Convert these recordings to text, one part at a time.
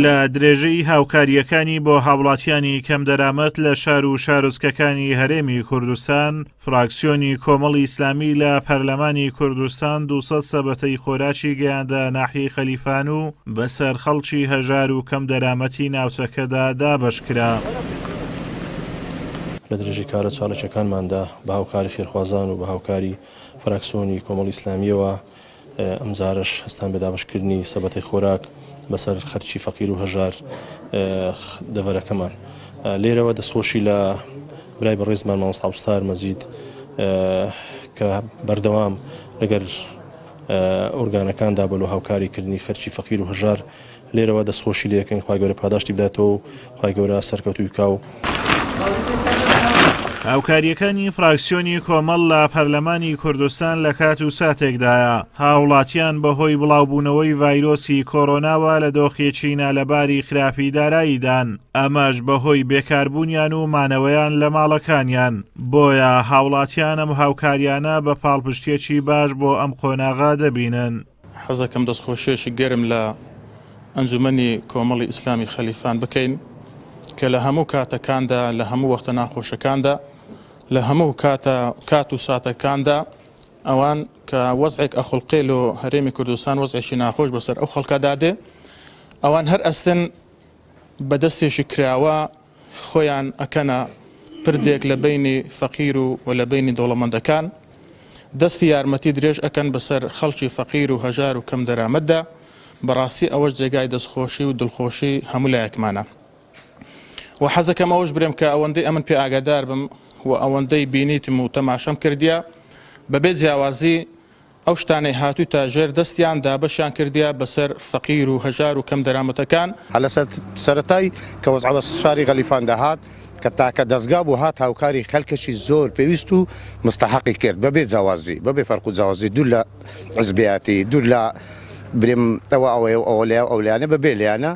لە درێژەی هاوکارییەکانی بۆ هاوڵاتیانی کەمدەرامەت لە شار و شارۆچکەکانی هەرێمی کوردستان، فراکسیۆنی کۆمەڵی ئیسلامی لە پەرلەمانی کوردستان دوو سەد سەبەتەی خۆراکی گەیاندە ناحیەی خەلیفان و بەسەر خەڵکی هەژار و کەمدەرامەتی ناوچەکەدا دابەشکرا. لە درێژەی کارە چالاکییەکانماندا بە هاوکاری خێرخوازان و بە هاوکاری فراکسیۆنی کۆمەڵی ئیسلامییەوە ئەمجارەش هەستان بە دابەشکردنی سەبەتەی خۆراک بەسەر خەرکی فەقیر و هەژار دەڤەرەکەمان لێرەوە دەستخۆشی لە برای بەڕێزمان مامۆستاوستار مەزید کە بەردەوام لەگەر ئۆرگانەکاندا بەلو هاوکاری کردنی خەرکی فەقیر و هەژار لێرەوە دەستخۆشی لێ ئەکەین خوای گەورە پاداشتی بداتەوە و خوای گەورە سەرکەوتووی بکاو. هاوکارییەکانی فراکسیۆنی کۆمەڵ لە پەرلەمانی کوردستان لە کات و ساتێکدایە هاوڵاتیان بەهۆی بڵاوبوونەوەی ڤایرۆسی کۆرۆناوە لە دۆخێکی نالەباری خراپی داراییدان ئەمەش بەهۆی بێکاربوونیان و مانەوەیان لە ماڵەکانیان بۆیە هاوڵاتیانم هاوکاریانە بە پاڵپشتێکی باش بۆ ئەم قۆناغا دەبینن. حەزەکەم دەستخۆشیەکی گەرم لە ئەنجومەنی کۆمەڵی ئیسلامی خەلیفان بکەین کە لە هەموو کاتەکاندا لە هەموو وەختە ناخۆشەکاندا لە هەموو کاتە کات و ساتەکاندا ئەوان کە وەزعێک ئەخڵقێ لۆ هەرێمی کوردستان وەزعێکی ناخۆش بەسەر ئەو خەڵکەدا دێ ئەوان هەر ئەستن بە دەستێکی کراوە خۆیان ئەکەنە پردێک لە بەینی فەقیر و و لە بەینی دەوڵەمەندەکان دەستی یارمەتی درێژ ئەکەن بەسەر خەڵکی فەقیر و هەژار و کەم دەرامەتدا بەڕاستی ئەوەش جێگای دەستخۆشی و دڵخۆشی هەموو لایەکمانە و حەزەکەم ئەوەش برێم کە ئەوەندەی ئەمن پێ ئاگادار بم و ئەوەندەی بینیتم و تەماشەم کردیە بەبێ جیاوازی ئەو شتانەی هاتووتە ژێر دەستیان دابەشیان کردیە بەسەر فەقیر و هەژار و کەم دەرامەتەکان. هەر لە سەرەتای کە وەزعەوە شاری غەلیفان دەهات کە تاکە دەزگا بوو هات هاوکاری خەلکەکی زۆر پێویست و مستەحەقی کرد بەبێ جیاوازی بەبێ فەرق و جیاوازی دوور لە حزبێیاتی دوور لە برێم ئەوە ئەوەیە و ئەوە لەیاو ئەو لایانە بە بێ لێیانە.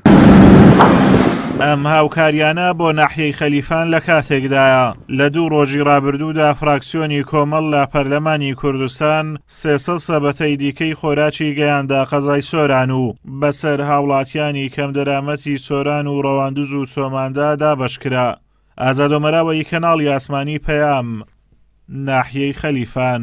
ئەم هاوکاریانە بۆ ناحیەی خەلیفان لە کاتێکدایە لە دوو ڕۆژی ڕابردوودا فراکسیۆنی کۆمەڵ لە پەرلەمانی کوردستان سێسە سەبەتەی دیکەی خۆراکی گەیاندا قەزای سۆران و بەسەر هاوڵاتیانی کەم دەرامەتی سۆران و ڕەواندوز و چۆماندا دابشکرا ئازادۆمەراوەی کەناڵی ئاسمانی پەیام ناحیەی خەلیفان